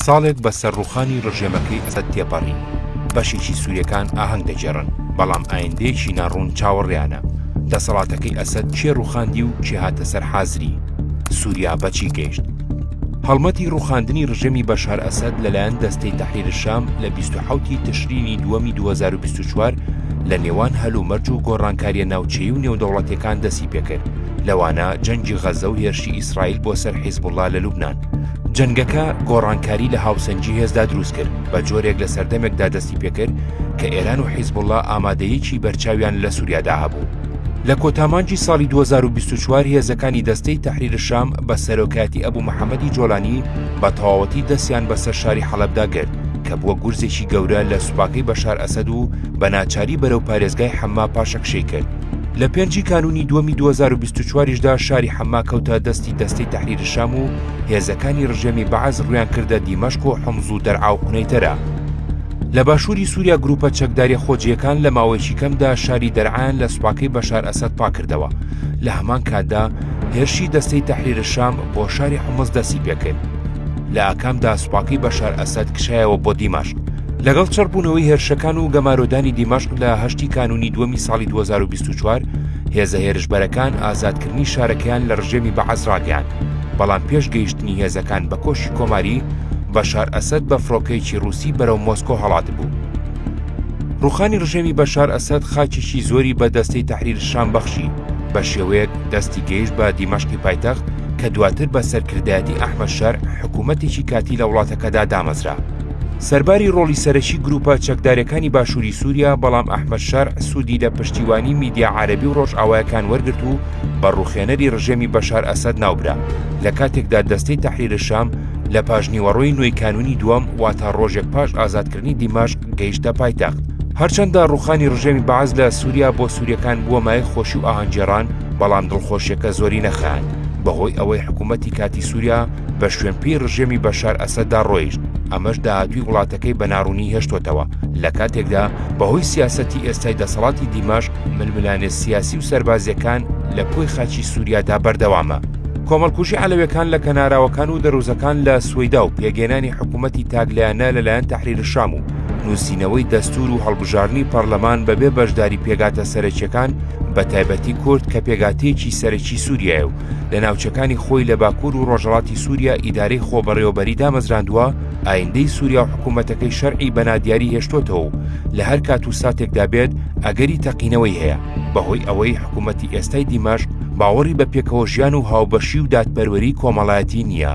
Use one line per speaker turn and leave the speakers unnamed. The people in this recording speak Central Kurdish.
ساڵێک بە سەر ڕوخانی ڕژێمەکەی ئەسەد تێپەڕی، بەشێکی سوریەکان ئاهەنگ دەگێڕن، بەڵام ئایندەیەکی نا ڕوون چاوەڕێیانە، دەسەڵاتەکەی ئەسەد کێ ڕوخاندی و کێ هاتە سەر حازری؟ سوریا بە چی گەیشت؟ هەڵمەتی ڕوخاندنی ڕژێمی بەشار ئەسەد لە لایەن دەستەی تەحریر الشام لە بیست و حەوت ی تشرینی دووەمی دوو هەزار و بیست و چوار لە نێوان هەلومەرج و گۆڕانکاریە ناوچەیی و نێودەوڵەتیەکان دەستی پێکرد لەوانە جەنگی غەزە و هێرشی ئیسرائیل بۆ سەر حیزبوڵا لە لوبنان. جەنگەکە گۆڕانکاری لە هاوسەنگی هێزدا دروست کرد بە جۆرێک لە سەردەمێکدا دەستی پێکرد کە ئێران و حیزبوڵڵا ئامادەیەکی بەرچاویان لە سووریادا هەبوو. لە کۆتامانجی ساڵی 2024 هێزەکانی دەستەی تەحریر شام بە سەرۆکایەتی ئەبو محەمەدی جۆلانی بە تەواوەتی دەستیان بەسەر شاری حەڵەبدا گرت کە بووە گورزێکی گەورە لە سوپاکەی بەشار ئەسەد و بە ناچاری بەرەو پارێزگای حەمما پاشەکشەی کرد. لە پێنجی کانوونی دووەمی 2024 یشدا شاری حەمما کەوتە دەستی دەستەی تەحریری شام و هێزەکانی ڕژێمی بەعس ڕویان کردە دیمەشق و حومز و دەرعا و قنەیتەرە لە باشووری سووریا گروپە چەکداریە خۆجیەکان لە ماوەیەکی کەمدا شاری دەرعایان لە سوپاکەی بەشار ئەسەد پاکردەوە لە هەمان کاتدا هێرشی دەستەی تەحریرە شام بۆ شاری حمز دەستی پێکرد لە ئاکامدا سوپاکەی بەشار ئەسەد کشایەوە بۆ دیمەشق لەگەڵ چڕبوونەوەی هێرشەکان و گەمارۆدانی دیمەشق لە هەشتی کانونی دووەمی ساڵی 2024 هێزە هێرشبەرەکان ئازادکردنی شارەکەیان لە ڕژێمی بەعەس ڕاگەیان بەڵام پێش گەیشتنی هێزەکان بە کۆشی کۆماری بەشار ئەسەد بە فڕۆکەیەکی ڕووسی بەرەو مۆسکۆ هەڵاتبوو. ڕوخانی ڕژێمی بەشار ئەسەد خاچێکی زۆری بە دەستەی تەحریر شام بەخشی بە شێوەیەک دەستی گەیشت بە دیمەشقی پایتەخت کە دواتر بە سەرکردایەتی ئەحمەد شەرع حکوومەتێکی کاتی لە وڵاتەکەدا دامەزرا. سەرباری ڕۆڵی سەرەکی گرووپە چەکدارەکانی باشووری سووریا بەڵام ئەحمەد شەرع سوودی لە پشتیوانی میدیا عارەبی و ڕۆژئاوایەکان وەرگرت و بە ڕوخێنەری ڕژێمی بەشار ئەسەد ناوبرا لە کاتێکدا دەستەی تەحریر شام لە پاشنیوەڕۆی نۆی کانونی دووەم واتە ڕۆژێک پاش ئازادکردنی دیمەشق گەیشتە پایتەخت. هەرچەندە ڕوخانی ڕژێمی بەعس لە سووریا بۆ سووریەکان بووە مایەی خۆشی و ئاهەنگگێڕان بەڵام دڵخۆشیەکە زۆری نەخایاند بەهۆی ئەوەی حکوومەتی کاتی سووریا بە شوێنپێی ڕژێمی بەشار ئەسەددا ڕۆیشت، ئەمەش داهاتووی وڵاتەکەی بە ناڕوونی هێشتۆتەوە، لە کاتێکدا بەهۆی سیاسەتی ئێستای دەسەڵاتی دیمەشق ململانێ سیاسی و سەربازییەکان لە کۆی خاچی سووریادا بەردەوامە. کۆمەڵکوژی عەلەوێکان لە کەناراوەکان و دەرووزەکان لە سوەیدا و پێکهێنانی حکوومەتی تاکلایەنە لەلایەن تەحریرشام و نووسینەوەی دەستوور و هەڵبژاردنی پەڕلەمان بەبێ بەشداری پێگاتە سەرەکییەکان بەتایبەتی کورد کە پێگاتەیەکی سەرەکی سووریایە و لە ناوچەکانی خۆی لە باکوور و ڕۆژەڵاتی سووریا ئیدارەی خۆبەڕێوەبەری دامەزراندووە، ئایندەی سووریا و حکوومەتەکەی شەرعی بە نادیاری هێشتۆتەوە و لە هەر کات و ساتێکدا بێت ئەگەری تەقینەوەی هەیە، بەهۆی ئەوەی حکوومەتی ئێستای دیمەشق باوەڕی بە پێکەوەژیان و هاوبەشی و دادپەروەریی کۆمەڵایەتی نییە.